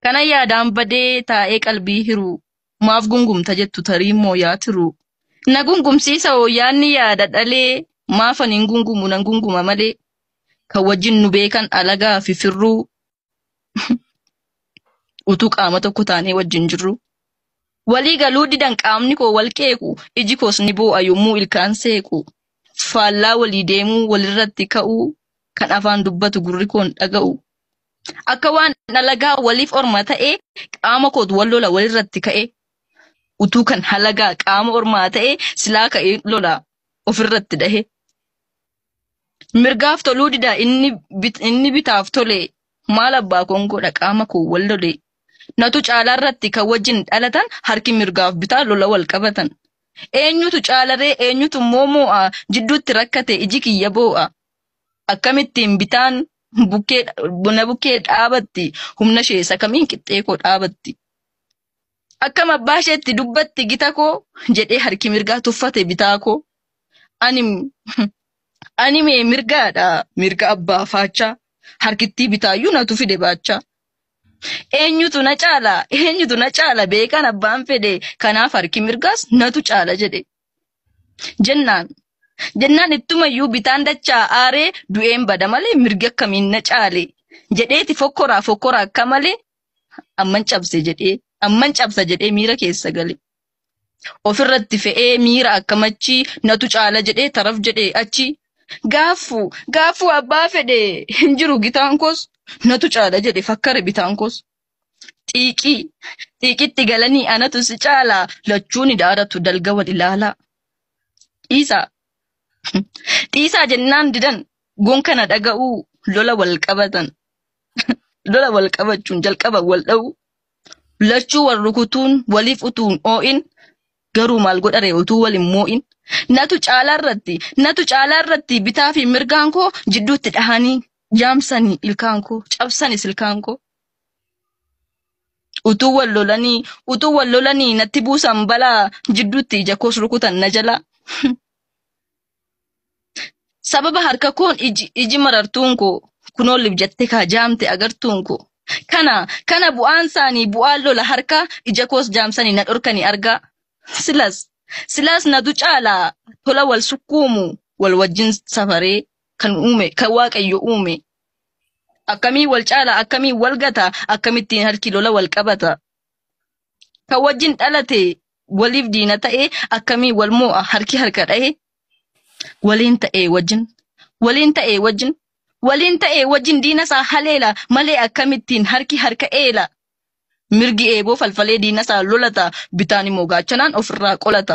Kana yaadaan badee taa'ee qalbii hiruu maaf gungumta jettu tarii immoo yaa tiruu. Na gungumsiisa hoo yaadni yaada dhalee maaf ani hin gungumu nan gunguma malee. Kan wajjin nu beekan alagaa fi firruu utuu qaama tokko taanee wajjin jirru. Walii galuu didan qaamni koo wal qeequ iji koos ni boo'a yommuu ilkaan seequ. Faallaa walii deemuu walirratti ka'uu kan afaan dubbatu gurri koon dhaga'u. Akka waan dhalagaa waliif orma ta'e qaama kootu wal lola walirratti ka'e. Utuu kan halagaa qaama ormaa ta'e silaa ka'e lola ofirratti dhahe. Mirgaaf toluu dida inni, bit, inni bitaaf tole maal abbaa koon godha qaama koo wal lole. Natu caalaa irratti kan wajjin dhalatan harki mirgaaf bitaa lola wal qabatan. Eenyutu caalaree eenyutu immoo moo'a jidduutti rakkate iji kiyya boo'a. Akkamittiin bitaan Bukkee na bukkee dhaabatti humna ishee isa kamiin qixxee koo dhaabatti. Akkam abbaa isheetti dubbatti gita koo jedhee harki mirgaa tuffate bitaa koo. Ani ani mee mirgaadha mirga abbaa faachaa harkittii bitaayyuu natu fide baachaa. Eenyutu na caala eenyutu na caala beekan abbaan fedhe kanaaf harki mirgaas natu caala jedhe. jennaan jennaan ittumayyuu bitaan dachaa aaree du'een bada malee mirgi akkamiin na caale jedheeti fokkoraa fokkora akka malee amman cabse jedhee amman cabsa jedhee miira keessa gale. Ofirratti fe'ee miira akkamachi natu caala jedhee taraf jedhee achi gaaffu gaaffu abbaa fedhe hin jiru gitaan koos natu caala jedhe fakkare bitaan koos Xiiqii xiiqitti galanii anatu si caala lachuu ni daaratu dalga wal ilaalaa. Dhiisaa dhiisaa jennaan didan gon kana dhaga'uu lola wal qabatan lola wal qabachuun jalqaba wal dha'uu lachuu wal rukutuun waliif utuun oo'in garuu maal godhare utuu wal hin moo'in natu caalaa irratti natu caalaa irratti bitaa fi mirgaan koo jidduutti dhahanii jaamsanii ilkaan koo cabsanis ilkaan koo. Utuu wal lolanii utuu wal lolanii natti buusan balaa jidduutti ija koos rukutan na jala. Sababa harka koon iji iji marartuun koo kunoo lib jette kaa jaamte agartuun koo. Kana kana bu'aan isaanii bu'aan lola harkaa ija koos jaamsanii na dhorkanii argaa. Silas silas natu caalaa tola wal sukkuumu wal wajjin safaree kan uume kan waaqayyo uume Akkamiin wal caala, akkamiin wal gata, akkamittiin harki lola wal qabata. Kan wajjin dhalate waliif diina ta'e akkamiin wal mo'a harki harka dhahe. Waliin ta'e wajjin, waliin ta'e wajjin, waliin ta'e wajjin diina isaa haleela malee akkamittiin harki harka eela. Mirgi eeboo falfalee diina isaa lolata, bitaan immoo gaachanaan ofirraa qolata.